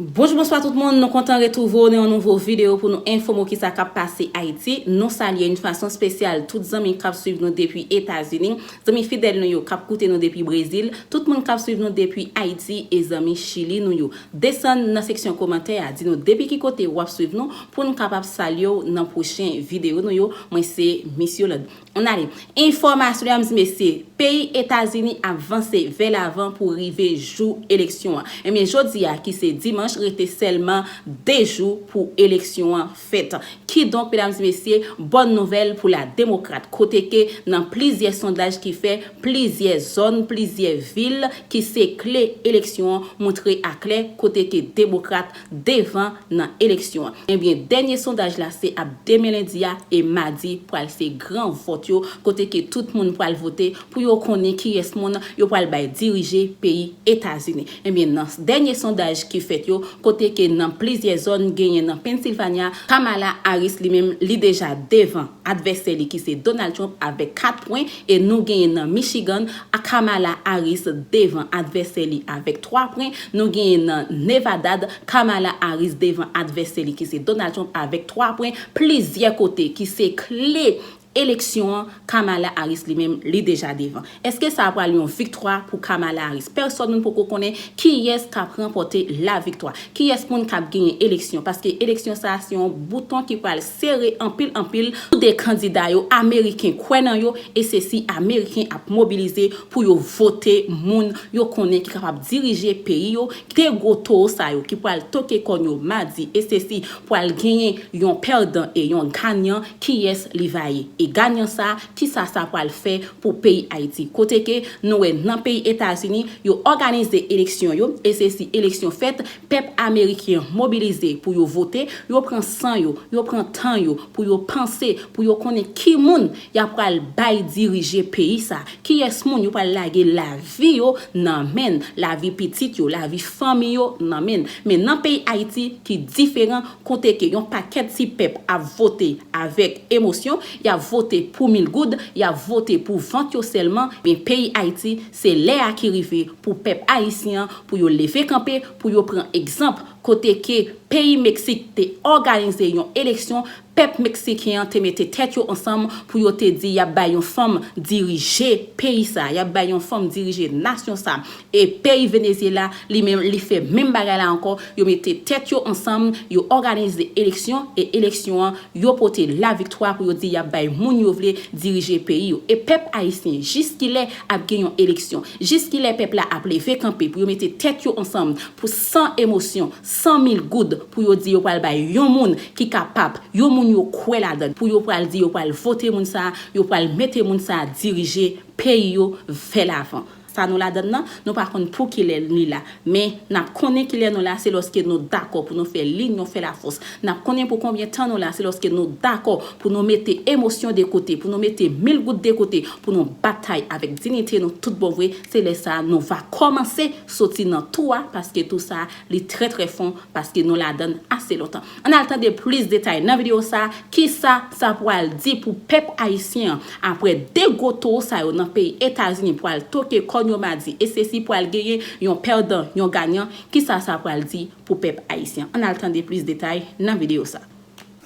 Bonjou bonswa tout moun, nou kontan retrouve w nan yon nouvo video pou nou enfome w kisa kap pase Ayiti. Nou salye yon fason spesyal tout zanmi kap swiv nou depi Etazini, zanmi fidèl nou yo kap koute nou depi Brezil, tout moun kap swiv nou depi Ayiti e zanmi Chili nou yo. Desann nan seksyon komantè a di nou depi ki kote wap swiv nou poun kapab salye w nan pwochen video nou yo, mwen se Miss Yolande. An ale. Enfòmasyon yo di mesye, peyi Etazini ap vanse vè lavan pou rive jou eleksyon an. Ebyen jodi a ki se dimanch rete sèlman 2 jou pou eleksyon an fèt. Kidonk medam di mesye, bòn nouvèl pou la demokrat kote ke nan plizyè sondaj ki fè, plizyè zòn, plizyè vil ki se kle eleksyon an moutre a klè kote ke demokrat devan nan eleksyon an. Ebyen dènye sondaj la se ap demen lendi a e madi pral se gran vòt yo kote ke tout moun pral vote pou yo konnen kiyès moun yo pral bay dirije peyi Etazini. Ebyen nan dènye sondaj ki fèt yo kote ke nan plizyè zòn genyen nan Pennsylvania, Kamala Harris li menm li deja devan advèsè li ki se Donald Trump avèk 4 pwen E nou genyen nan Michigan a Kamala Harris devan advèsè li avèk 3 pwen, nou genyen nan Nevadad Kamala Harris devan advèsè li ki se Donald Trump avèk 3 pwen, plizyè kote ki se kle eleksyon an Kamala Harris li menm li deja devan. Eske sa a pral yon viktwa pou Kamala Harris? Pèsòn moun poko konnen kiyès kap ranpòte laviktwa, kiyès moun kap genyen eleksyon paske eleksyon sa a se yon bouton ki pral. sere anpil anpil tou 2 kandida yo ameriken kwè nan yo e se si ameriken ap mobilize pou yo vote moun yo konnen ki kapab dirije peyi yo 2 gwo towo sa yo ki pwal toke kòn yo madi e se si pwal genyen yon pèdan e yon ganyan kiyès li va ye e ganyan sa kisa sa pwal fè pou peyi ayiti kote ke nou wè nan peyi etazini yo òganize eleksyon yo e se si eleksyon fèt Pèp amerikyen mobilize pou yo vote, yo pran san yo, yo pran tan yo pou yo panse, pou yo konnen ki moun y a pral bay dirije peyi sa, kiyès moun yo pral lage lavi yo nan men l, lavi pitit yo, lavi fanmi yo nan men l. Men nan peyi Ayiti ki diferan, kote ke yon pakèt ti pèp ap vote avèk emosyon, y ap vote pou mil goud, y ap vote pou vant yo sèlman, men peyi Ayiti Se lè a ki rive pou pèp ayisyen an pou yo leve kanpe pou yo pran egzanp kote ke peyi Meksik te òganize yon eleksyon pèp meksiken an te mete tèt yo ansanm pou yo te di yap bay yon fanm dirije peyi sa yap bay yon fanm dirije nasyon sa e peyi Venezyela li menm li fè menm bagay la ankò yo mete tèt yo ansanm yo òganize eleksyon e eleksyon an yo pote laviktwa pou yo di yap bay moun yo vle dirije peyi yo e pèp ayisyen jiskilè Ap gen yon eleksyon. Jiskilè pèp la ap leve kanpe pou yo mete tèt yo ansanm pou san emosyon, san mil goud pou yo di yo pral bay yon moun ki kapap, yon moun yo kwè ladann pou yo pral di yo pral vote moun sa a, yo pral mete moun sa a dirije peyi yo vè lavan. Sa nou ladann nan? Nou pa konn poukilè li la. Men, n ap konnen kilè nou la se lòske nou dakò pou nou fè linyon, fè lafòs. N ap konnen pou konbyen tan nou la se lòske nou dakò pou nou mete emosyon de kote, pou nou mete mil gout de kote, pou nou batay avèk dinite nou tout bon vre, se lè sa a nou va kòmanse soti nan tou a paske tou sa a li trè trè fon, Paske nou ladan l ase lontan. Ann al tande plis detay nan videyo sa a, kisa sa pwal di pou pèp ayisyen an apre 2 gwo towo sa yo nan peyi Etazini pwal toke kòn yo madi e sesi pwal genyen yon pèdan, yon ganyan, kisa sa pwal di pou pèp ayisyen. Ann al tande plis detay nan videyo sa a.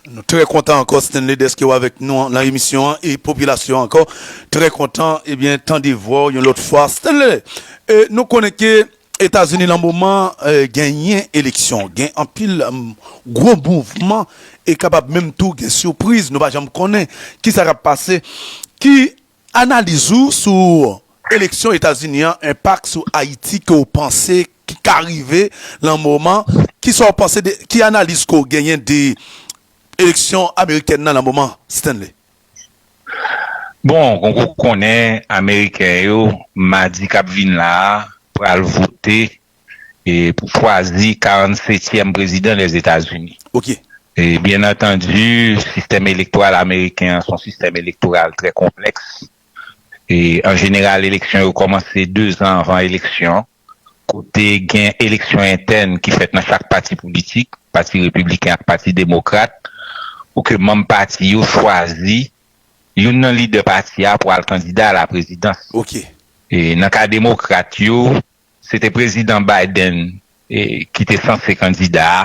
Nou trè kontan ankò Stanley dèske w avèk nou nan emisyon an e popilasyon an ankò trè kontan ebyen tande vwa w yon lòt fwa Stanley e nou konnen ke Etazini lan moman genyen eleksyon, gen anpil gwo mouvman e kapab menm tou gen sipriz nou pa janm konnen kisa kap pase. Ki analiz ou sou eleksyon Etazini an, enpak sou Ayiti ke w panse ki ka rive lan moman? Kisa w panse de, ki analiz ke w genyen de eleksyon amerikèn nan lan moman Stanley? Bon, kon kou konnen ameriken yo madi k ap vin la a pral vote pou chwazi 47 tyèm prezidan Lèzetazini. E byen antandi sistèm elektoral ameriken an se yon sistèm elektoral trè konplèks e an jeneral eleksyon yo kòmanse dezan anvan eleksyon. kote gen eleksyon entèn ki fèt nan chak pati politik, pati repibliken ak pati demokrat, pou ke manm pati yo chwazi youn nan lidè pati a pou al kandida alaprezidans. Ok. Nan ka demokrat yo, se te Prezidan Biden ki te sanse kandida a,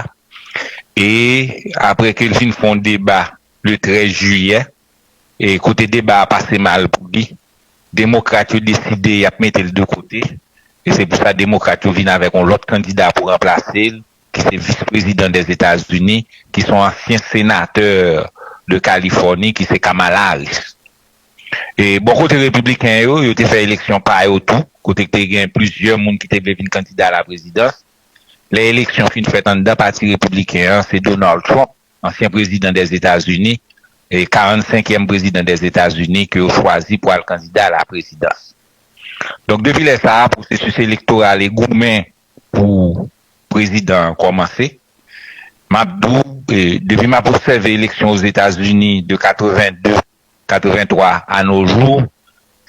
e apre ke l fin fè yon deba le 13 jiyè, E kote deba a pase mal pou li, Demokrat yo deside y ap mete l de kote, e se pou sa Demokrat yo vin avèk yon lòt kandida pou ranplase l, ki se Vis Prezidan Dèzetazini, ki se yon ansyen senatè de Kalifòni, ki se Kamala Harris. E bò kote Repibliken yo, yo te fè eleksyon pa yo tou, kote te gen plizyè moun ki te vle vin kandida a la prezidans. Lè eleksyon fin fèt anndan pati Repibliken an, se Donald Trump ansyen prezidan Dèzetazini e 45 yèm prezidan Dèzetazini ke yo chwazi pou al kandida ala prezidans. Donk depi lè sa a pwosesis elektoral e goumen pou prezidan an kòmanse. M ap di w depi m ap obsève eleksyon Ozetazini de 82 83 a no jou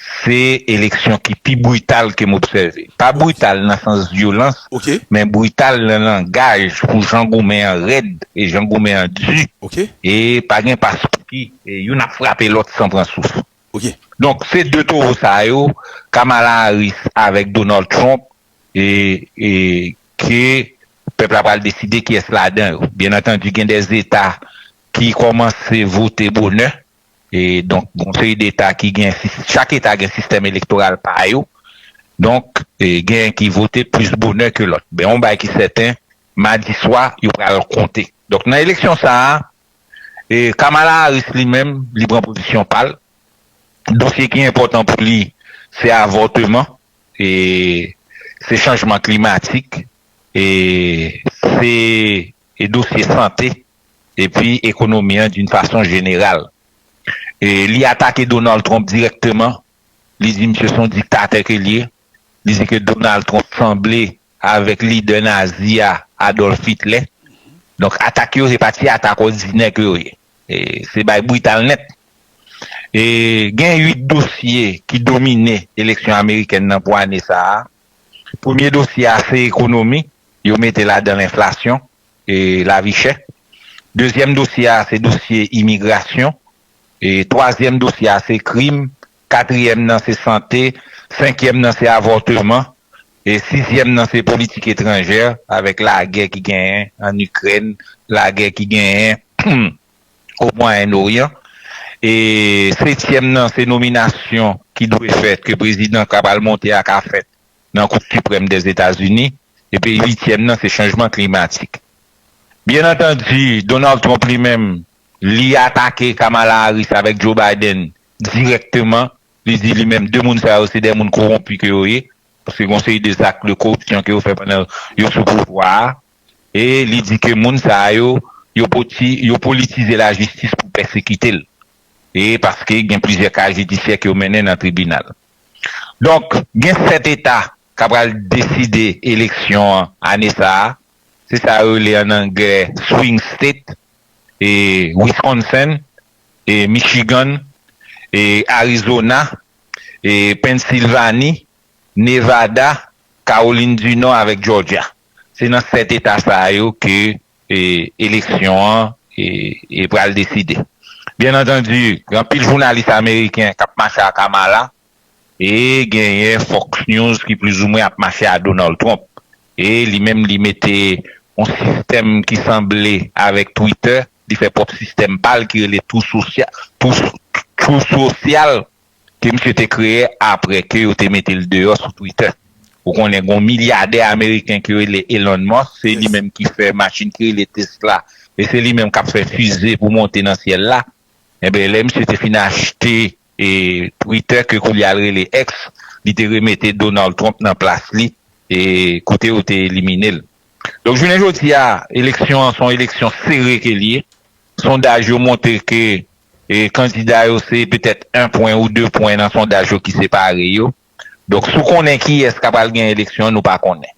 se eleksyon ki pi brital ke m obsève. Pa brital nan sans vyolans, men brital nan langaj pou jan goumen an rèd e jan goumen an di e pa gen paspouki e youn ap frape lòt san pran souf. Donk se 2 towo sa yo, Kamala Harris avèk Donald Trump e e ke pèp la pral deside kiyès ladan yo. Byennantandi gen de zeta ki kòmanse vote bonè e donk gon seri deta ki gen chak eta gen sistèm elektoral pa yo donk gen ki vote plis bonè ke lòt men yon bagay ki sèten madi swa yo pral konte donk nan eleksyon sa a e Kamala Harris li menm li pran pozisyon pa l dosye ki enpòtan pou li se avòteman e se chanjman klimatik e se dosye sante. epi ekonomi an d'une façon générale. Li atake Donald Trump dirèkteman, li di misye se yon diktatè ke l ye, li di ke Donald Trump sanble avèk lidè nazi a Adolf Hitler. Donk atak yo se pa ti atak òdinè ke yo ye. Se bay brital nèt. Gen 8 dosye ki domine eleksyon amerikèn nan pou ane sa a. Premye dosye a se ekonomi, yo mete ladan l enflasyon. e lavi chè. Dezyèm dosye a se dosye imigrasyon. E twazyèm dosye a se krim. Katriyèm nan se sante. Senkyèm nan se avòteman. E sizyèm nan se politik etranjè avèk lagè ki genyen ann Ikrèn, lagè ki genyen o Mwayen Noryan. E setyèm nan se nominasyon ki dwe fèt, ke prezidan ka pral monte a ka fèt nan Kou Siprèm Dèzetazini epi uityèm nan se chanjman klimatik. Byen antandi, Donald Trump li menm, li atake Kamala Harris avèk Joe Biden dirèkteman, li di li menm 2 moun sa yo se 2 moun kowonpi ke yo ye, paske gen yon seri de zak de koripsyon ke yo fè pandan yo sou pouvwa a, e li di ke moun sa yo, yo poti, yo politize lajistis pou pèsekite l, e paske gen plizyè ka jidisyè ke yo mennen nan tribinal. Donk, gen 7 eta k ap pral deside eleksyon an ane sa a. Se sa yo rele ann anglè swing state, Wisconsin, Michigan, Arizona, Pennsilvani, Nevada, Kawolin di Nò avèk Jòjya. Se nan 7 eta sa yo ke eleksyon an pral deside. Byen antandi, gen anpil jounalis ameriken k ap mache a Kamala e genyen Fox News ki plizoumwen ap mache a Donald Trump. E li menm li mete yon sistèm ki sanble avèk Twitter, li fè pwòp sistèm pa l ki rele True Social. ke misye te kreye apre ke yo te mete l deyò sou Twitter. Ou konnen gon milyadè ameriken ki rele Elon Musk, se li menm ki fè machin ki rele Tesla e se li menm k ap fè fize pou monte nan syèl la. Enben, lè misye te fin achte e Twitter ke koulye a l rele X, li te remete Donald Trump nan plas li e kote yo te elimine l. Donk jounen jodi a, eleksyon an se yon eleksyon sere ke l ye. Sondaj yo montre ke kandida yo se petèt 1 pwen ou 2 pwen nan sondaj yo ki separe yo. Donk si w konnen kiyès ka pral gen eleksyon nou pa konnen.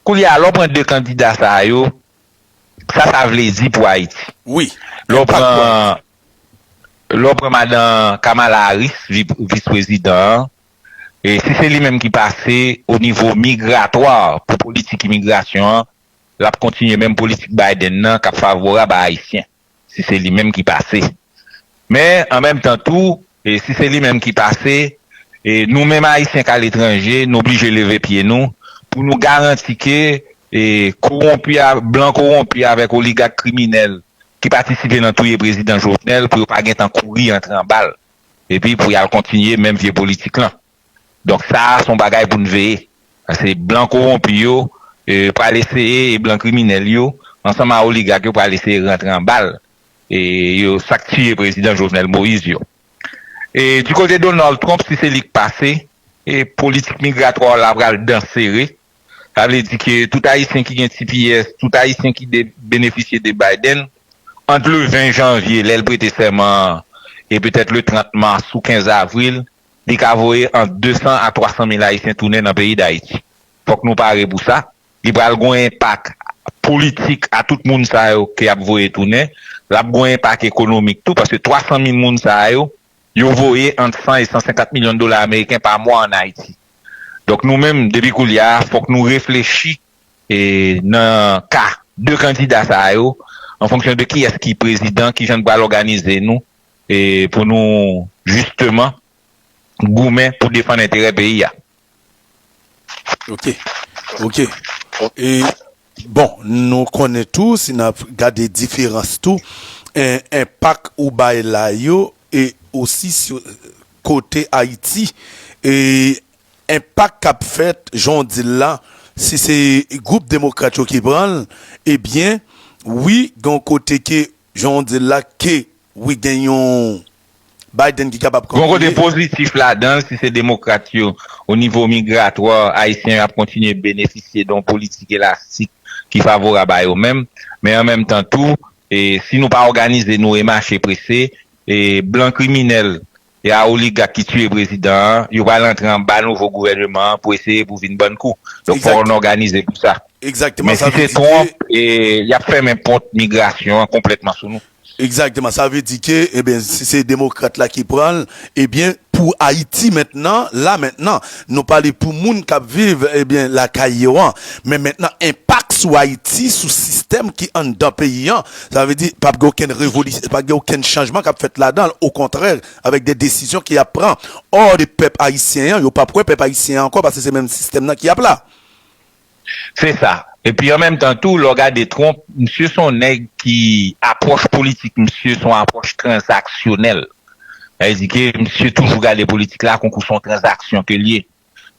Koulye a lè w pran 2 kandida sa yo, sa sa vle di pou Ayiti? Wi, enpak pou Ayiti. Lè w pran madan Kamala Harris, vis prezidan an, si se li menm ki pase o nivo migratwa pou politik imigrasyon an, l ap kontinye menm politik Biden nan k ap favorab a Ayisyen, si se li menm ki pase. Men, an menm tan tou, si se li menm ki pase, nou menm Ayisyen k al etranje, nou blije leve pye nou pou nou garanti ke kowonpi, blan kowonpi avèk oligak kriminèl ki patisipe nan touye Prezidan Jovenel pou yo pa gentan kouri antre anba l epi pou y al kontinye menm vye politik lan. Donk sa a son bagay pou n veye. Pase blan kowonpi yo pral eseye e blan kriminèl yo ansanm a oligak yo pral eseye rantre anba l e yo sa k tiye prezidan Jovenel Moïse yo. E di kote Donald Trump si se li k pase e politik migratwa w la pral dan sere. Sa vle di ke tout ayisyen ki gen tps, tout ayisyen ki de benefisye de Biden ant le 20 janvye lè l prete sèman an e petèt le 30 mas ou 15 avril Li ka voye ant 200 a 300 mil Ayisyen tounen nan peyi Dayiti. Fòk nou pare pou sa. Li pral gon enpak politik a tout moun sa yo ke yap voye tounen. Lap gon enpak ekonomik tou paske 300 mil moun sa yo, yo voye ant 100 e 150 milyon dola ameriken pa mwa an Ayiti. Donk nou menm depi koulye a fòk nou reflechi nan ka 2 kandida sa yo an fonksyon de kiyès ki prezidan, kijan n pral òganize nou. E pou nou jisteman goumen pou defann enterè peyi a. Ok. Ok. E bon, nou konnen tou, si n ap gade diferans tou, enpak ou bay la yo e osi kote Ayiti, e enpak k ap fèt, jan w di l la, si se gwoup demokrat yo ki pran l, ebyen, wi, gen yon kote ke, jan w di l la, ke Wi gen yon Biden ki kapab kanpe. Gon kote pozitif ladan l si se demokrat yo o nivo migratwa ayisyen yo ap kontinye benefisye don politik elastik ki favorab a yo menm men an menm tan tou si nou pa òganize nou e mache prese blan kriminèl Se a oligak ki tiye prezidan an, yo pral antre anba nouvo gouvèneman an pou eseye pou vin bann kou. Donk fò on òganize pou sa. Egzakteman, sa vle di ke. Men si se Trump, y ap fèmen pòt migrasyon an konplètman sou nou. Egzakteman, sa vle di ke, enben, si se demokrat la ki pran l, ebyen, pou Ayiti mentnan, la mentnan, nou pale pou moun k ap viv, ebyen, lakay yo an, men mentnan enpak sou Ayiti, sou sistèm ki anndan peyi an, Sa vle di, pap gen okenn revolisyon, pap gen okenn chanjman kap fèt ladan l, okontrè, avèk de desizyon ki ap pran or de pèp ayisyen an, yo pap wè pèp ayisyen an ankò paske se menm sistèm nan ki ap la. Se sa. Epi an menm tan tou, lè w gade Trump, misye se yon nèg ki apwòch politik misye se yon apwòch tranzaksyonèl. Sa vle di ke misye toujou gade politik la konkou se yon tranzaksyon ke l ye.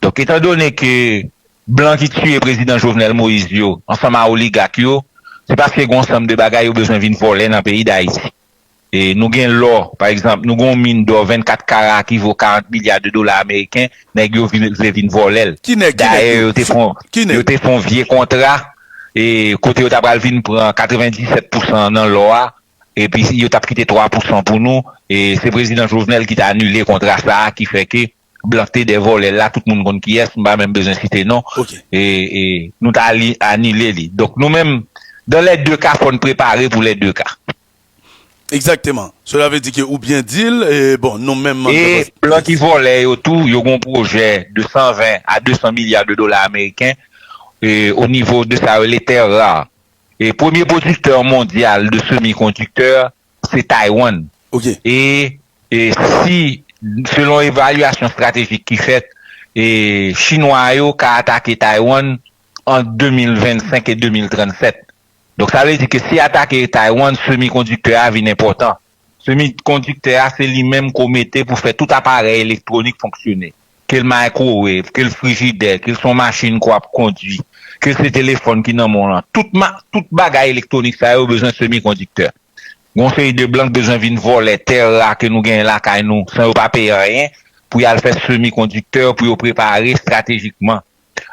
Donk etan done ke blan ki tiye prezidan Jovenel Moïse yo ansanm a oligak yo se paske gen yon sanm de bagay yo bezwen vin vòlè nan peyi Dayiti. Nou gen lò pa egzanp, nou gen yon min dò 24 kara ki vo 40 milya de dola ameriken, nèg yo vle vin vòlè l. Ki nèg? Ki nèg yo? Ki nèg? Yo te fè yon vye kontra kote yo ta pral vin pran 97 pousan nan lò a epi yo t ap kite 3 pousan pou nou. Se prezidan Jovenel ki te anile kontra sa a ki fè ke blan te de vòlè la tout moun konn kiyès m pa menm bezwen site non e e nou ta li anile li donk nou menm dan lè de ka fòn prepare pou lè de ka. Egzakteman sela vle di ke ou byen dil e bon nou menm e blan ki vòlè yo tou yo gon pwojè de 120 a 200 milya de dola ameriken e o nivo de sa yo rele tè ra e premye pwodiktè mondyal de semi kondiktè se Taiwan. E si, selon evalyasyon estratejik ki fèt, Chinwa yo ka atake Taiwan ant 2025 e 2037. Donk sa vle di ke si atake Taiwan, semikondiktè a vin enpòtan. Semikondiktè a se li menm ke w mete pou fè tout aparèy elektwonik fonksyone. ke l microwave, ke l frijidè, ke l se yon machin ke w ap kondwi, ke se telefòn ki nan men w lan, tout ma, tout bagay elektwonik sa yo bezwen semikondiktè. Gen yon seri de blan ki bezwen vin vòlè tè ra ke nou genyen lakay nou san yo pa peye anyen pou y al fè semikondiktè pou yo prepare estratejikman.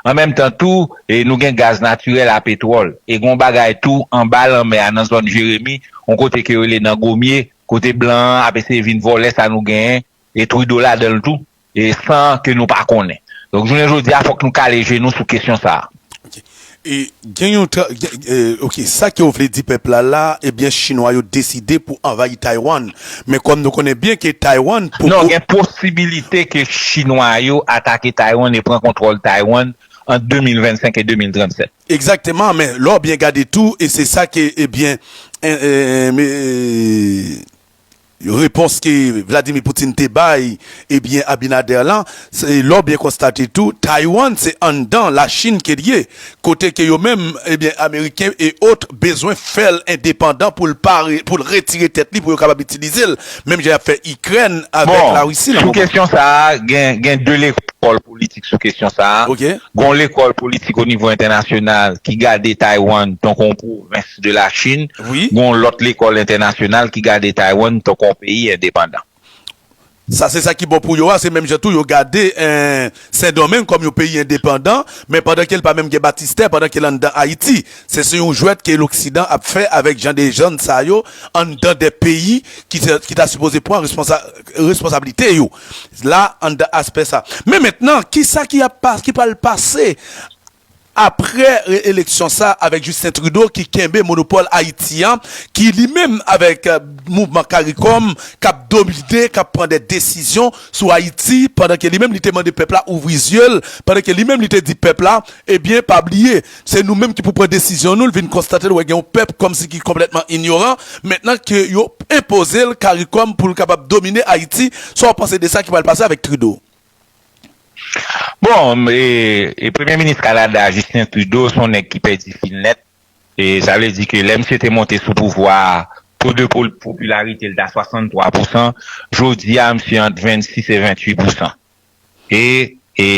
An menm tan tou, e nou gen gaz natirèl a petwòl. E gen yon bagay tou anba lanmè a nan zòn Jeremi, yon kote ke yo rele nan Gomye, kote blan an ap eseye vin vòlè sa nou genyen E Trudeau ladan l tou, e san ke nou pa konnen. Donk jounen jodi a fòk nou kale je nou sou kesyon sa a. Ok. E gen yon tra, e, ok, sa ke w vle di pèp la la, ebyen chinwa yo deside pou anvayi Taiwan. Men kòm nou konnen byen ke Taiwan Non, poko gen posibilite ke chinwa yo atake Taiwan e pran kontwòl Taiwan ant 2025 e 2037. Egzakteman, men lè w byen gade tou, e se sa ke, ebyen, en, en, en, me, e. Repons ke Vladimir Putin te bay ebyen Abinader lan, lè w byen konstate tou Taiwan se anndan la Chine ke l ye, kote ke yo menm ebyen Ameriken e ot bezwen fè l endepandan pou l pa pou l retire tèt li pou yo kapab itilize l menm jan y ap fè Ikrèn avèk la Russie lan moman. Bon, sou kesyon sa a gen gen 2 lekòl. politik sou kesyon sa a. Gen yon lekòl politik onivo entènasyonal ki gade Taiwan tankou yon pwovens de Lachin. Gen yon lòt lekòl entènasyonal ki gade Taiwan tankou yon peyi endepandan. Sa se sa ki bon pou yo a. Se menm jan tou yo gade Sendomeng kòm yon peyi endepandan, men pandan ke li pa menm gen batistè, pandan ke li anndan Ayiti. Se se yon jwèt ke loksidan ap fè avèk jan de jèn sa yo anndan de peyi ki ta sipoze pran responsabilite yo. la anndan aspè sa. Men mentnan, kisa ki ap pase, ki pral pase aprè reeleksyon sa avèk Justin Trudeau ki kenbe monopòl Ayiti an, ki li menm avèk mouvman Caricom kap domine, kap pran dè desizyon sou Ayiti pandan ke li menm li te mande pèp la ouvri zye l, pandan ke li menm li te di pèp la, ebyen pa bliye. Se nou menm ki pou pran desizyon nou, l vin konstate l wè gen yon pèp kòmsi ki konplètman inyoran mentnan ke yo enpoze l karikòm pou l kapab domine Ayiti, sa w panse de sa ki pral pase avèk Trudeau? Bon, e premye minis Kanada a Justin Trudeau se yon nèg ki pèdi fil nèt, e sa vle di ke lè misye te monte sou pouvwa a to de popilarite l ta 63 pousan, jodi a misye ant 26 e 28 pousan. E e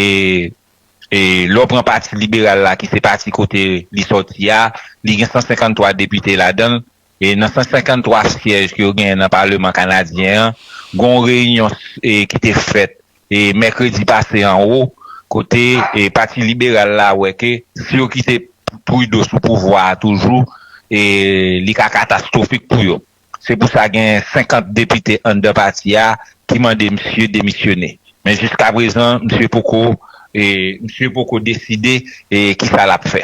e lè w pran pati liberal la ki se pati kote li sòti a, li gen 153 depite ladan l. E nan 153 syèj ke yo genyen nan paleman kanadyen an, gen yon reyinyon ki te fèt e mèkredi pase anwo kote e pati liberal la wè ke si yo kite Trudeau sou pouvwa a toujou e li ka katastwofik pou yo. Se pou sa gen 50 depite anndan pati a ki mande misye demisyone. Men jiskaprezan misye poko misye poko deside ki sa l ap fè.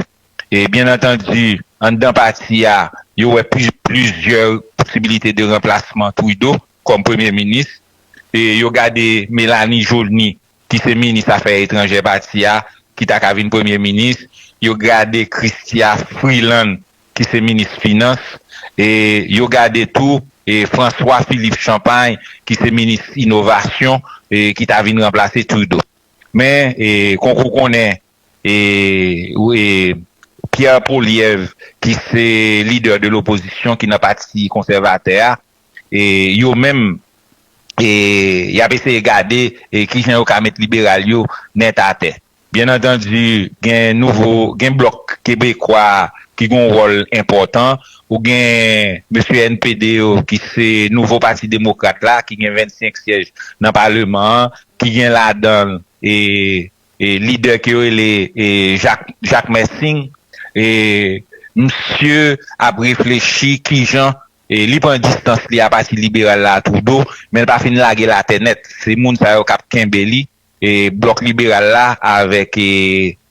Byen antandi anndan pati a yo wè plizyè posibilite de ranplasman Trudeau kòm premye minis. Yo gade Mélanie Joly ki se minis afè etranjè pati a, ki ta ka vin premye minis, yo gade Chrystia Freeland ki se minis finans, e yo gade tou François Philippe Champagne ki se minis inovasyon e ki ta vin ranplase Trudeau. Men kon kou konnen e Pierre Poilievre ki se lidè de lopozisyon ki nan pati konsèvatè a, e yo menm e yap eseye gade e kijan yo ka met liberal yo nèt atè. Byen antandi gen nouvo gen blòk kebekwa ki gen yon wòl enpòtan ou gen mesye NPD yo ki se nouvo pati demokrat la ki gen 25 syèj nan paleman an ki gen ladanl e e lidè ke yo rele e Jak Jakmè Singh e misye ap reflechi kijan Li pran distans li a pati liberal la Trudeau, men l pa fin lage l atè nèt. Se moun sa yo k ap kenbe li, blòk liberal la avèk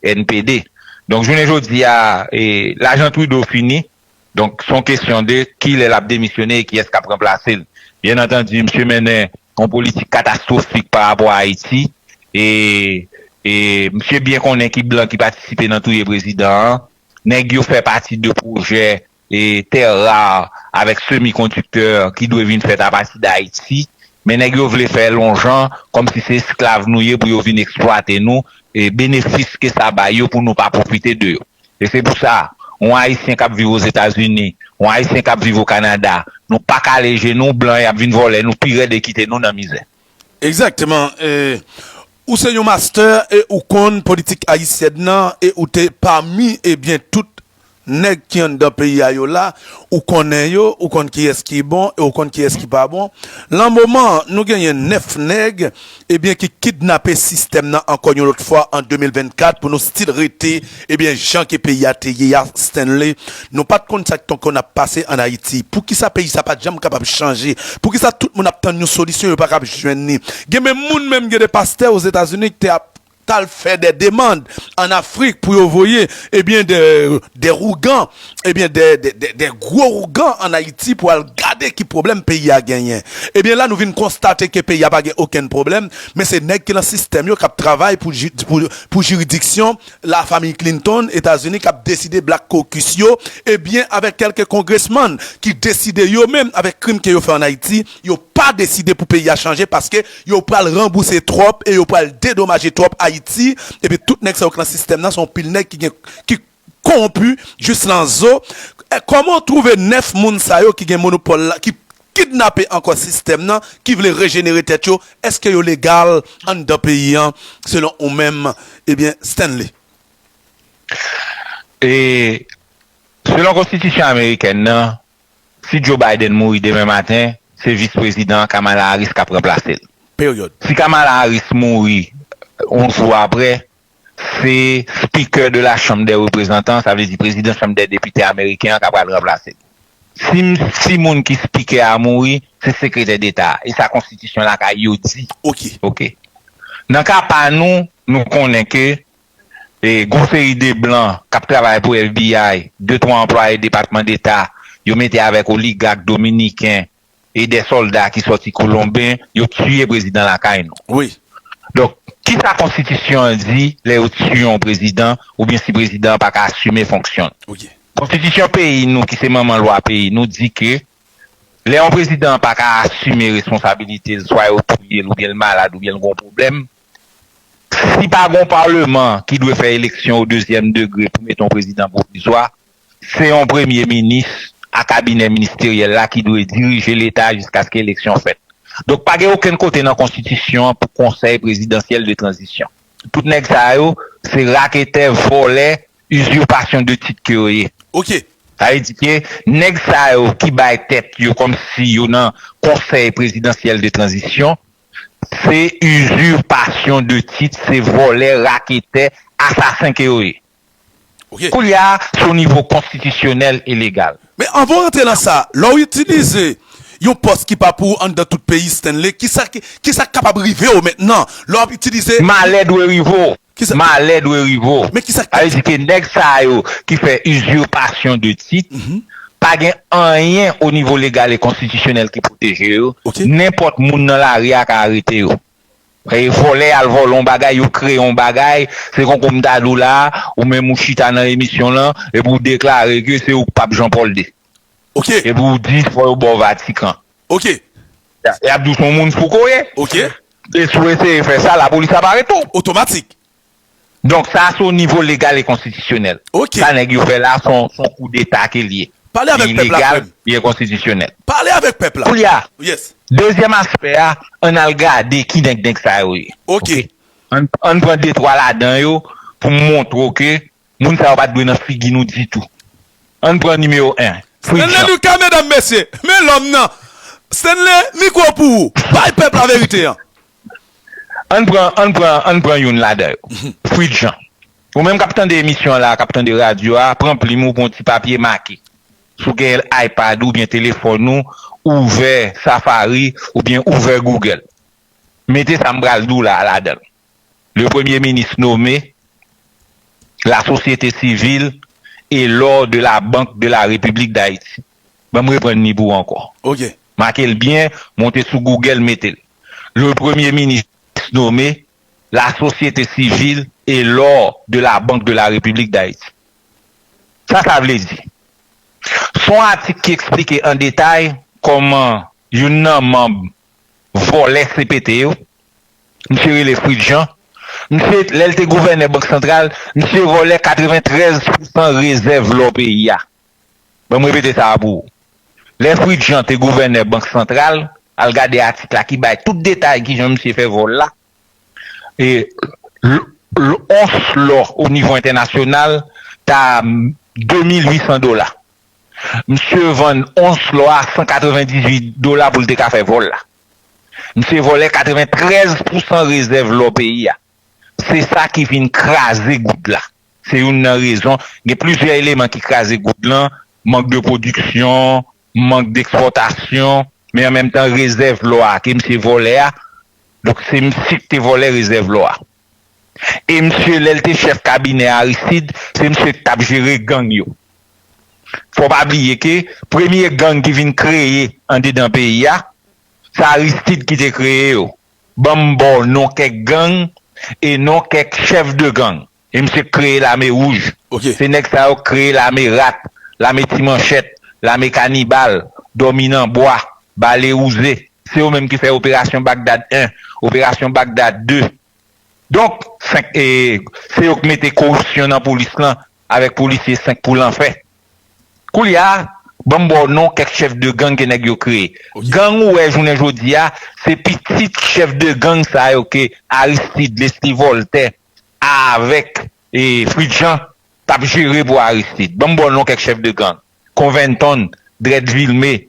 NPD. Donk jounen jodi a, lajan Trudeau fini, donk s on kesyon de ki lè l ap demisyone e kiyès k ap ranplase l. Byen antandu, misye mennen yon politik katastwofik pa rapò a Ayiti e misye byen konnen ki blan ki patisipe nan touye prezidan an. Nèg yo fè pati de pwojè terre rare avèk semi kondiktè ki dwe vin fèt apati dayiti men nèg yo vle fè lonjan kòmsi se esklav nou ye pou yo vin eksplwate nou benefis ke sa bay yo pou nou pa pwofite de yo e se pou sa yon ayisyen kap viv ozetazini yon ayisyen kap viv okanada nou pa kale je nou blan yap vin vòlè nou pi rèd e kite nou nan mizè. Exactement Ou se yon master e ou konn politik ayisyèn nan e ou te pami ebyen tout nèg ki anndan peyi a yo la ou konnen yo ou konn kiyès ki bon e ou konn kiyès ki pa bon lan moman an nou genyen 9 nèg ebyen ki kidnape sistèm nan ankò yon lòt fwa an 2024 pou nou stil rete Ebyen jan ke peyi a te ye a Stanley nou pat konn sak ton konn ap pase an ayiti poukisa peyi sa pat janm kapab chanje poukisa tout moun ap tann yon solisyon yo pa kab jwenn ni gen menm moun menm gen de pastè ozetazini ki te ap tal fè dè demand an afrik pou yo voye ebyen dè dè rougan ebyen dè dè dè gro rougan an ayiti pou al gade ki problèm peyi a genyen ebyen la nou vin konstate ke peyi a pa gen okenn problèm men se nèg ki lan sistèm yo kap travay pou pou pou jiridiksyon La Famiy Clinton Etazini kap deside Black Caucus yo ebyen avèk kèlke Congressman ki deside yo menm avèk krim ke yo fè an Ayiti yo pa deside pou peyi a chanje paske yo pral ranbouse twòp e yo pral dedomaje twòp Ayiti epi tout nèg sa yo ki lan sistèm nan se yon pil nèg ki gen ki konwonpi jis lan zo kòman ou twouve 9 moun sa yo ki gen monopòl la ki kidnape ankò sistèm nan ki vle rejenere tèt yo, èske yo legal anndan peyi an selon ou menm ebyen Stanley? E selon konstitisyon amerikèn nan si Joe Biden mouri demen maten se vis prezidan an Kamala Harris kap ranplasel. Period. Si Kamala Harris mouri yon jou aprè Se Speaker de la Chambre des Représentants, sa vle di Prezidan Chanm dè Depite ameriken an ka pral ranplase l. Si m si moun ki Speaker a mouri, se Sekretè Deta a. E sa Konstitisyon lakay yo di. Ok. Ok. Nan ka pa nou, nou konnen ke gon seri de blan k ap travay pou FBI, de twa anplwaye Depatman Deta, yo mete avèk oligak dominiken, e dè solda ki soti kolonben yo tiye prezidan lakay nou donk kisa konstitisyon an di lè yo tiye yon prezidan oubyen si prezidan an paka asime fonksyon l konstitisyon peyi nou ki se manman lwa peyi nou di ke lè yon prezidan an paka asime responsabilite l swa yo touye l oubyen l malad oubyen l gon pwoblèm si pa gon parleman ki dwe fè eleksyon o dezyèm degre pou mete yon prezidan pwovizwa Se yon premye minis a kabinè ministeryèl la ki dwe dirije leta jiskaske eleksyon fèt. Donk pa gen okenn kote nan konstitisyon an pou konsèy prezidansyèl de tranzisyon. Tout nèg sa yo se raketè, vòlè, uzurpation de titre ke yo ye. Ok. Sa vle di ke nèg sa yo ki bay tèt yo kòm si yo nan konsèy prezidansyèl de tranzisyon se uzurpation de titre, se vòlè, raketè, asasen ke yo ye. ok. Koulye a, se yon nivo konstitisyonèl e legal. Men anvan w rantre nan sa, lè w itilize yon pòs ki pa pou ou anndan tout peyi Stanley, kisa ki sa k kapab rive w mentnan lè w ap itilize. Malè dwe rive w. Malè dwe rive w. Men kisa k. Sa vle di ke nèg sa yo ki fè uzurpation de titre pa gen anyen o nivo legal e konstitisyonèl ki pwoteje yo, nenpòt moun nan lari a ka arete yo. E vòlè al vòlè yon bagay yo kreye yon bagay se kon kou m ta di w la ou menm ou chita nan emisyon lan epi w deklare ke se ou k pap Jean Paul ii Ok. epi w di fò yo ba w vatikan Ok. yap di w se yon moun fou ke w ye Ok. e si w eseye fè sa lapolis ap arete w. Otomatik. Donk sa se o nivo legal e konstitisyonèl. Ok. Sa nèg yo fè la se yon koudeta ke li ye. Pale avèk pèp la frè m. Li ilegal, li enkonstitisyonèl. Pale avèk pèp la. Koulye a, Yes. dezyèm aspè a, ann al gade ki nèg nèg sa yo ye. Ok. An n pran de twa ladan yo pou m montre w ke Moun sa yo pat dwe nan figi nou ditou. Ann pran nimewo 1, Fritz Stanley Jean. Lucas medam mesye men lòm nan Stanley mikwo pou ou bay pèp la verite an. Ann pran ann pran ann pran youn ladan yo. Fritz Jean. Ou menm kap tande emisyon an la kap tande radyo a pran plim ou pran yon ti papye make. Si w gen ipad ou byen telefòn ou ouvè safari ou byen ouvè google. Mete sa m pral di w la ladan l. le premye minis nome, la sosyete sivil e lò de la bank de la repiblik dayiti. Ban m reprann li pou ou ankò. Ok. Make l byen, monte sou Google mete l. Le premye minis nome, la sosyete sivil e lò de la bank de la repiblik dayiti. Sa sa vle di? S on atik ki eksplike an detay kòman youn nan manb vòlè CPT yo, misye rele Fritz Jean, misye lè l te gouvènè bank santral misye vòlè 93 pousan rezèv lò peyi a, ban m repete sa a pou ou, lè Fritz Jean te gouvènè bank santral, al gade atik la ki bay tout detay kijan misye fè vòl la, e l ons lò o nivo entènasyonal ta 2800 dola. Msye vann ons lò a 198 dola pou l te ka fè vòl la. Msye vòlè 93 pousan rezèv lò peyi a. Se sa ki vin kraze goud la. Se youn nan rezon, gen plizyè eleman ki kraze goud lan, mank de pwodiksyon, mank dekspòtasyon, men an menm tan rezèv lò a ke msye vòlè a, donk se msye ki te vòlè rezèv lò a. E misye lè l te chèf kabinè Aristide se misye ki t ap jere gang yo. Fò w pa bliye ke premye gang ki vin kreye andedan peyi a, se Aristide ki te kreye yo. Ban m ba w non kèk gang e non kèk chèf de gang. E misye ki kreye lame wouj. Se nèg sa yo ki kreye lame rat, lame ti manchèt, lame kanibal, dòmi nan bwa, bale wouze. Se yo menm ki fè operasyon Bagdad 1, operasyon Bagdad 2. Donk, 5, se yo k mete koripsyon nan polis lan avèk polisye 5 pou lanfè. Koulye a, ban m ba w non kèk chèf de gang ke nèg yo kreye. Gang ou wè jounen jodi a, se pitit chèf de gang sa yo ke Aristide, Lesly Voltè avèk Fritz Jean t ap jere pou Aristide. Ban m ba w non kèk chèf de gang, Convington, Dread Vilmé,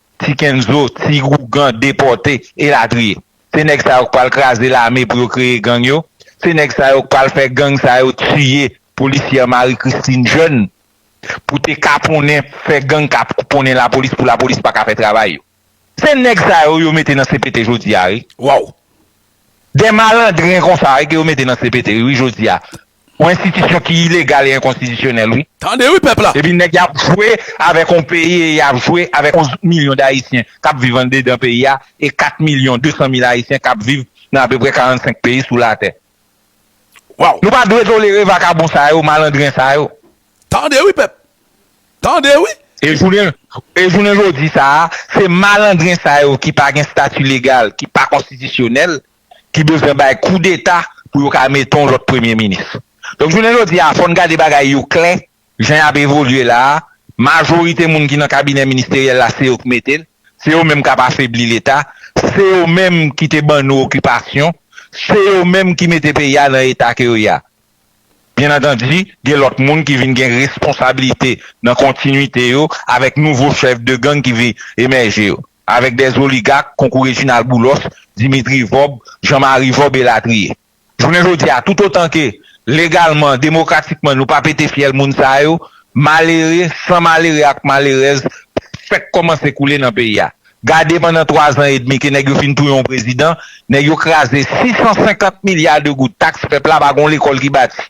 Ti kenzo, ti ougan depòte, elatriye. Se nèg sa yo k pral kraze lame pou yo kreye gang yo, se nèg sa yo k pral fè gang sa yo tiye polisyè Marie Christine Jeune pou te kaponnen fè gang kapkoponnen lapolis pou lapolis paka fè travay yo. Se nèg sa yo yo mete nan CPT jodi a wi. Waww. Dè malandren konsa wi ke yo mete nan CPT wi jodi a. Yon enstitisyon ki ilegal e enkonstitisyonèl wi. Tande wi pèp la! Epi nèg yap jwe avèk yon peyi e yap jwe avèk 11 milyon dayisyen kap viv andedan peyi a e 4 milyon 200 mil ayisyen kap viv nan apeprè 45 peyi sou latè. Waw! Nou pa dwe tolere vakabon sa yo, malandren sa yo. Tande wi pèp! Tande wi! E jounen e jounen jodi sa a, se malandren sa yo ki pa gen stati legal, ki pa konstitisyonèl, ki bezwen bay koudeta pou yo ka mete yon lòt premye minis. Donk jounen jodi a fò n gade bagay yo klè jan y ap evolye la a, majorite moun ki nan kabinè ministeryèl la se yo k mete l, se yo menm k ap afebli leta, se yo menm ki te ban nou okipasyon, se yo menm ki mete peyi a nan eta ke yo ye a. Byen antandi gen lòt moun ki vin gen responsabilite nan kontinuite yo avèk nouvo chèf de gang ki vin emèje yo. Avèk dè zoligak konkou Rejinal Boulòs, Dimitri Vòb, Jan Mari Vòb elatriye. Jounen jodi a, toutotan ke legalman, demokratikman nou pa pete fyèl moun sa yo, malere, san malere ak malerèz fèk kòmanse koule nan peyi a. Gade pandan twa zan edmi ke nèg yo fin touye yon prezidan, nèg yo kraze 650 milya de goud taks pèp la pa gen yon lekòl ki bati.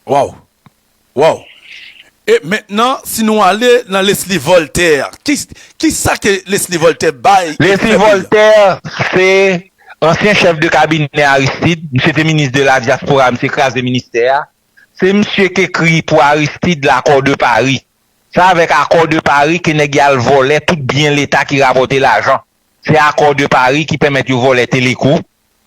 Waww! Waww! E mentnan si nou ale nan Leslie Voltaire, ki sa ke Leslie Voltaire bay ekri pèp li an? Leslie Voltaire se ansyen chèf de kabinè Aristide, misye te minis de la diaspora, misye kraze ministè a. Se misye k ekri pou Aristide L'accord de Paris. Se avèk Accord de Paris ke nèg y al vòlè tout byen leta ki rapòte lajan. Se Accord de Paris ki pèmèt yo vòlè Teleco.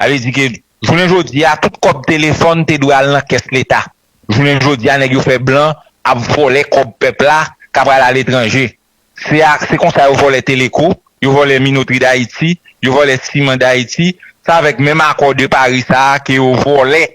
Sa vle di ke jounen jodi a tout kòb telefòn te dwe al nan kès leta. Jounen jodi a nèg yo fè blan ap vòlè kòb pèp la ka pral aletranje. Se a se konsa yo vòlè Teleco, yo vòlè Minotri Dayiti, yo vòlè Siman Dayiti. Se avèk menm Accord de Paris sa a ke yo vòlè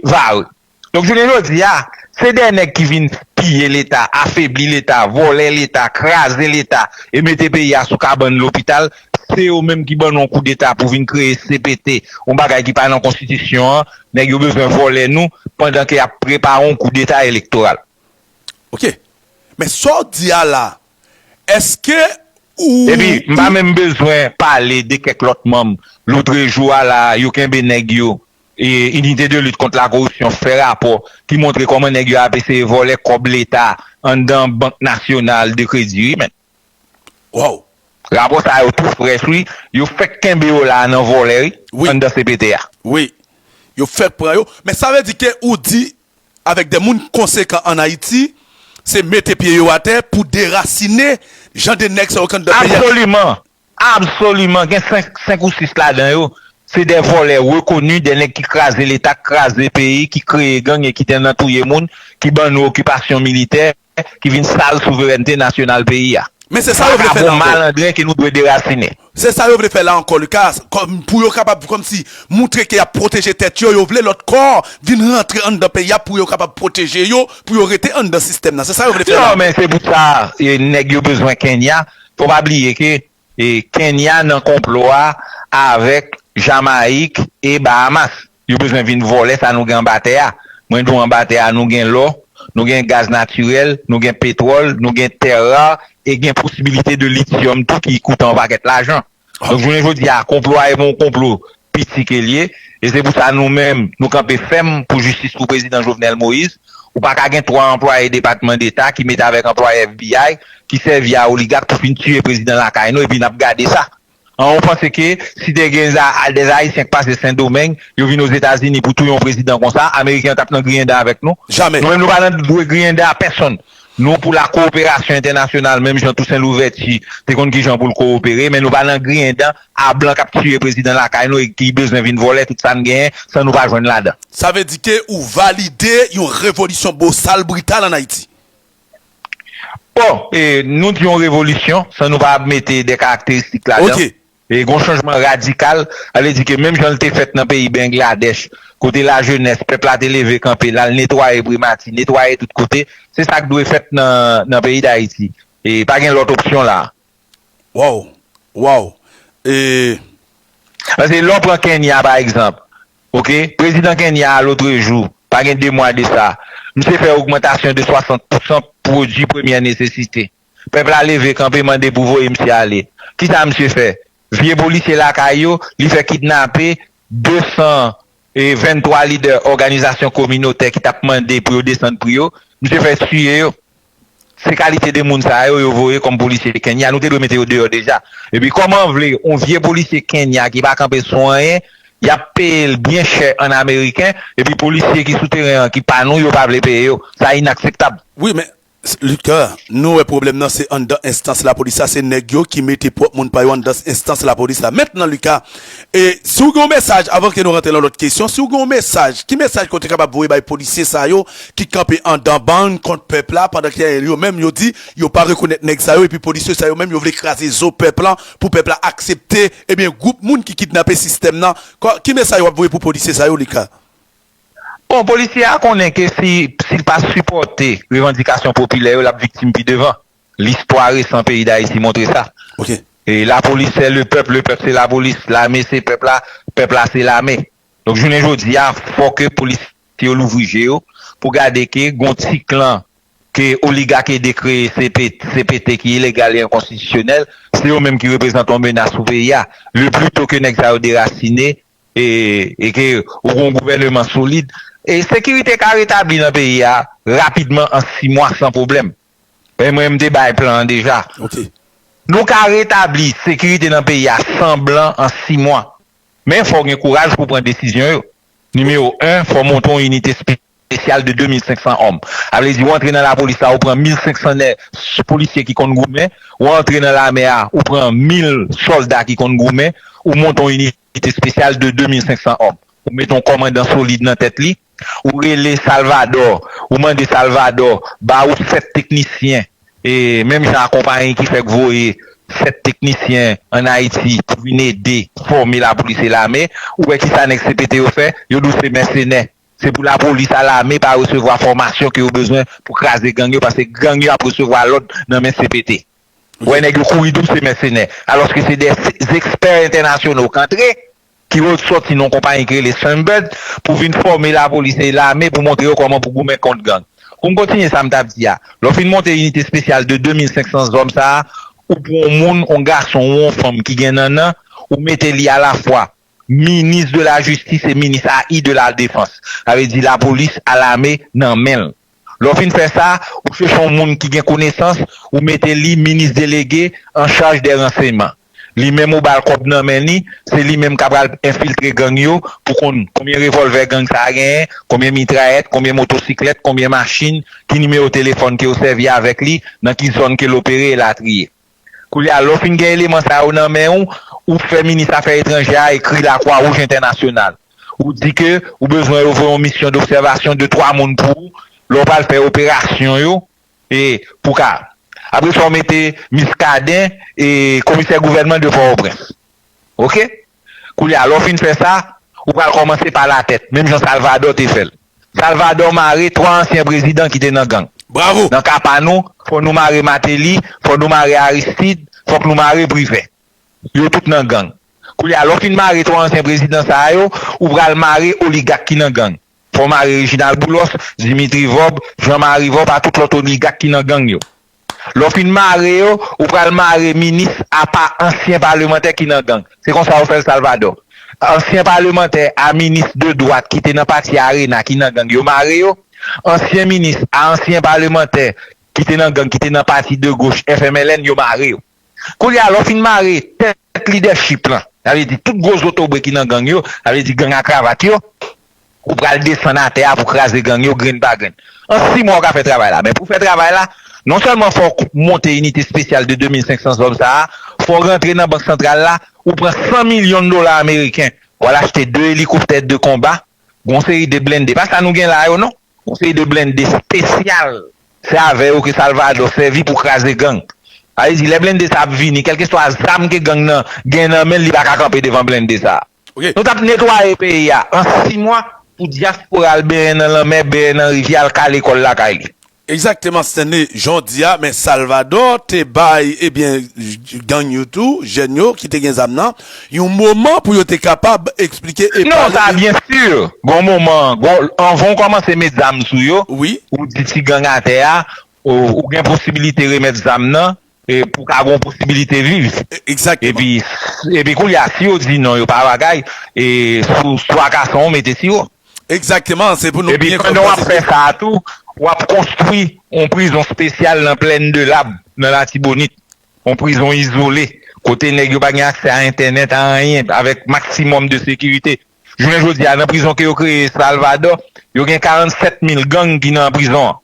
Vare. Donk jounen jodi a, se dè nèg ki vin piye leta, afebli leta, vòlè leta, kraze leta e mete peyi a sou kabann lopital, se yo menm ki ban nou yon koudeta pou vin kreye cpt, yon bagay ki pa nan konstitisyon an, nèg yo bezwen vòlè nou pandan ke yap prepare yon koudeta elektoral. Ok. Men sa w di a la, eske ou, Epi, m pa ou. menm bezwen pale de kèk lòt manm, loutrejou a la, yo kenbe nèg yo. Inite de lit kont la koripsyon fè rapò ki montre kòman nèg yo ap eseye vòlè kòb leta anndan bank nasyonal de kredi wi menn. Waww. Rapò sa yo tou frèch wi, yo fèk kenbe yo la nan vòlè wi, anndan cpt a. Wi. Yo fèk pran yo. Men sa vle di ke ou di avèk de moun konsekan an Ayiti se mete pye yo atè pou derasine jan de nèg sa yo k anndan peyi a. Absoliman. Absoliman gen 5 ou 6 ladan yo se dè vòlè rekoni dè nèg ki kraze leta ki kraze peyi ki kreye gang e ki te nan touye moun ki ban nou okipasyon militè ki vin sal souverènte nasyonal peyi a Men se sa yo vle fè la ankò. Se sa yo vle fè la ankò Lucas pou yo kapab kòmsi moutre ke yap pwoteje tèt yo yo vle lòt kò vin rantre anndan peyi a pou yo kapab pwoteje yo pou yo rete anndan sistèm nan se sa yo vle fè la ankò. Non men se pou sa nèg yo bezwen Kenya Fò w pa bliye ke Kenya nan konplo a avèk Jamayik e Bahamas. Yo bezwen vin vòlè sa nou gen anba tè a. Mwen di w anba tè a nou gen lò, nou gen gaz natirèl, nou gen petwòl, nou gen terre rare e gen posibilite de lithium tou ki koute yon pakèt lajan. Donk jounen jodi a konplo a e pou yon konplo piti ke l ye e se pou sa nou menm nou kanpe fèm pou jistis pou prezidan Jovenel Moïse. Ou pa ka gen 3 anplwaye depatman deta ki mete avèk anplwaye FBI ki sèvi a oligak pou fin tiye prezidan lakay nou epi n ap gade sa. An ou panse ke si te gen des Haïtiens k pase Sendomeng yo vin Ozetazini pou touye yon prezidan konsa ameriken yo t ap nan griyen dan avèk nou? Jamè! Nou menm nou pa nan dwe griyen dan a pèsonn. Nou pou la kowoperasyon entènasyonal menm jan Tousen Louvèti te konn ki jan pou l kowopere men nou pa nan griyen dan a blan k ap tiye prezidan lakay nou e ki bezwen vin vòlè tout sa n genyen san nou pa jwenn ladan. Sa vle di ke ou valide yon revolisyon bosal brital an Ayiti? Bon, nou di yon revolisyon san nou pa mete de karakteristik ladan. Ok. E gon chanjman radikal, sa vle di ke menm jan li te fèt nan peyi Bengladèch, kote lajenès pèp la te leve kanpe, l al netwaye primati, netwaye tout kote, se sa k dwe fèt nan peyi Dayiti. E pa gen lòt opsyon la a. Waww! Waww! E. Paske lè w pran Kenya pa egzanp, ok, prezidan Kenya a lotrejou, pa gen 2 mwa de sa, misye fè ogmantasyon de 60 pousan pwodui premyè nesesite. Pèp la leve kanpe mande pou voye misye ale. Kisa misye fè? Vye polisye lakay yo, li fè kidnape 223 lidè òganizasyon kominotè ki tap mande pou yo desann pri yo. Misye fè tiye yo. Se kalite de moun sa yo, yo voye kòm polisye Kenya. Nou te dwe mete yo deyò deja. Epi kòman vle yon vye polisye Kenya ki pa kanpe sou anyen, yap peye l byen chè an ameriken, epi polisye ki sou teren an ki pa nou yo pa vle peye yo. Sa inakseptab. Wi men Luther, Nou wè pwoblèm nan se anndan enstans lapolis la, se nèg yo ki mete pwòp moun pa yo anndan enstans lapolis la. Mentnan Luca, e si w gen yon mesaj, avan ke nou rantre lan lòt kesyon, si w gen yon mesaj, ki mesaj ke w te kapab voye bay polisye sa yo ki kanpe anndan bann kont pèp la pandan ke yo menm yo di yo pa rekonèt nèg sa yo epi polisye sa yo menm yo vle kraze zo pèp lan pou pèp la aksepte ebyen gwoup moun ki kidnape sistèm nan? Ki mesaj w ap voye pou polisye sa yo Luca? Bon, polisye a konnen ke si l pa sipòte revandikasyon popilè yo, l ap viktim pi devan. Listwa resan peyi Dayiti montre sa. Lapolis sè le pèp, le pèp se lapolis, lame se pèp la, pèp la se lame. Donk jounen jodi a, fò ke polisye yo louvri je yo pou gade ke gon ti klan ke oligak ede kreye CPT ki ilegal e enkonstitisyonèl, se yo menm ki reprezante yon menas pou peyi a. Le pli to ke nèg sa yo derasine, e ke ou gen yon gouvèneman solid, sekirite ka retabli nan peyi a rapidman an 6 mwa san pwoblèm. Mwen menm m te bay plan an deja. Nou ka retabli sekirite nan peyi a san blan an 6 mwa. Men fò w gen kouraj pou w pran desizyon yo. Nimewo 1, fò w monte yon inite spesifik. espesyal de 2500 òm. Sa vle di ou antre nan lapolis la ou pran 1500 nè polisye ki konn goumen, ou antre nan lame a ou pran 1000 sòlda ki konn goumen, ou monte yon inite espesyal de 2500 òm. Ou mete yon kòmandan solid nan tèt li, ou rele Salvadò, ou mande Salvadò ba ou 7 teknisyen, e menm jan a konpayi ki fèk voye 7 teknisyen an Ayiti pou vin ede fòme lapolis e lame, ou wè kisa nèg CPT yo fè? Yo di w se mèsenè. Se pou lapolis a lame pa resevwa fòmasyon ke yo bezwen pou kraze gang yo paske gang yo ap resevwa lòd nan men cpt. Wè nèg yo kouri dou se mèsenè alòske se de zexpè entènasyono kantre ki re sòti nan yon konpayi ki rele Sunbird pou vin fòme lapolis e lame pou montre yo kòman pou goumen kont gang. Pou m kontinye sa m t ap di a, lè w fin monte inite spesyal de 2500 zòm sa a, ou pran yon moun, yon gason ou yon fanm ki gen nannan, ou mete li alafwa Minis de la jistis e minis a i de la defans. Sa vle di lapolis a lame nan men l. Lè w fin fè sa, ou chèche yon moun ki gen konesans, ou mete li minis delege an chaj dè ranseyman. Li menm ou ba l kòb nan men li, se li menm k ap al enfiltre gang yo pou konn konbyen revòlvè gang sa a genyen, konbyen mitrayèt, konbyen motosiklèt, konbyen machin, ki nimewo telefòn ke yo sèvi avèk li, nan ki zòn ke l opere, elatriye. Koulye a, lè w fin gen eleman sa yo nan men ou, ou fè minis afè etranjè a ekri Lakwa Wouj Entènasyonal. Ou di ke ou bezwen yo voye yon misyon dobsèvasyon de twa moun pou ou, lè w pral fè operasyon yo, e pou w ka. Apre sa w mete Miskaden e komisè gouvènman de Pòtoprens. Ok. Koulye a, lè w fin fè sa, ou pral kòmanse pa latèt, menm jan Salvadò te fè l. Salvadò mare twa ansyen prezidan ki te nan gang. Bravo! Nan ka pa nou, fò nou mare Mateli, fò nou mare Aristid, fòk nou mare Privè. Yo tout nan gang. Koulye a, lè w fin mare twa ansyen prezidan sa a yo, ou pral mare oligak ki nan gang. Fò mare Reginald Boulos, Dimitri Vorbe, Jean Marie Vorbe a tout lòt oligak ki nan gang yo. Lè w fin mare yo, ou pral mare minis apa ansyen palemantè ki nan gang. Se konsa yo fè l Salvadò. Ansyen palemantè a minis de dwat ki te nan pati Arena ki nan gang yo mare yo. Ansyen minis a ansyen palemantè ki te nan gang ki te nan pati de goch FMLN yo mare yo. Koulye a, lè w fin mare tèt lidèchip lan, sa vle di tout gwo zotobre ki nan gang yo, sa vle di gang a kravat yo, ou pral desann atè a pou kraze gang yo grenn pa grenn. An si mwa ou ka fè travay la. Men pou fè travay la, non sèlman fò w monte inite spesyal de 2500 zòm sa a, fò w rantre nan bank santral la, ou pran 100 milyon dola ameriken, w al achte 2 elikoptè de konba, gon seri de blende, pa sa nou gen la yo non. Konseye de blende spesyal. Se avè yo ke Salvador sèvi pou kraze gang. Sa vle di lè blende sa ap vini kelkeswa zam ke gang nan gen nan menl li pa ka kanpe devan blende sa. Nou tap netwaye peyi a an 6 mwa pou diaspora al benyen nan lanmè, benyen nan rivyè, al kale kòl lakay li. Egzakteman Stanley jan w di a men Salvador te bay ebyen gang yo tou jèn yo ki te gen zam nan. Yon moman pou yo te kapab eksplike e pale. Non, sa a byen sur. Gon moman, gon, anvan ou kòmanse met zam sou yo, Wi. ou di ti gang atè a, ou gen posibilite remèt zam nan e pou ka gon posibilite viv. Egzakteman. Epi, epi koulye a, si yo di non, yo pa bagay, e sou swa kason ou mete siwo. Egzakteman, se pou nou byen konn pwosedir. Epi pandan w ap fè sa a tou, w ap konstwi yon prizon spesyal nan Plaine de l'Ab, nan Latibonit. Yon prizon izole, kote nèg yo pa gen aksè a entènèt, a anyen, avèk maksimòm de sekirite. Jounen jodi a, nan prizon ke yo kreye Salvadò, yo gen 47 mil gang ki nan prizon an.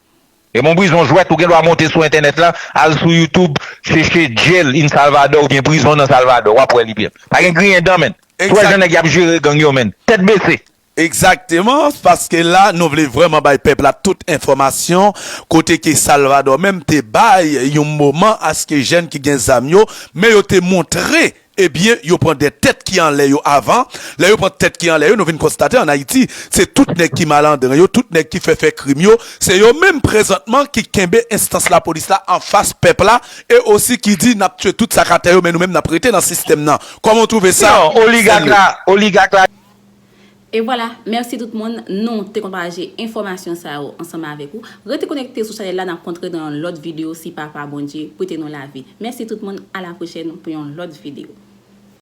Se pa yon prizon jwèt, ou gen dwa monte sou entènèt la, al sou YouTube, cheche Jail in Salvador oubyen Prizon nan Salvadò, w ap wè li byen. Pa gen griyen dan menn. Ou wè jan nèg y ap jere gang yo menn. Tèt bese! Exactement, paske la nou vle vrèman bay pèp la tout enfòmasyon, kote ke Salvador menm te bay yon moman aske jèn ki gen zam yo, men yo te montre ebyen yo pran de tèt ki anlè yo avan, lè yo pran tèt ki anlè yo nou vin konstate an Ayiti se tout nèg ki malandren yo, tout nèg ki fè fè krim yo, se yo menm prezantman ki kenbe enstans lapolis la anfas pèp la e osi ki di nap tye tout sa k atè yo men nou menm nap rete nan sistèm nan, kòman w twouve sa Sèl yo. E vwala, mèsi tout moun, nou te konn pataje enfòmasyon sa yo ansanm avèk ou. Rete konekte sou chanèl la nap kontre nan yon lòt video si Papa Bondye prete nou lavi. Mèsi tout moun, a la pwochèn pou yon lòt video.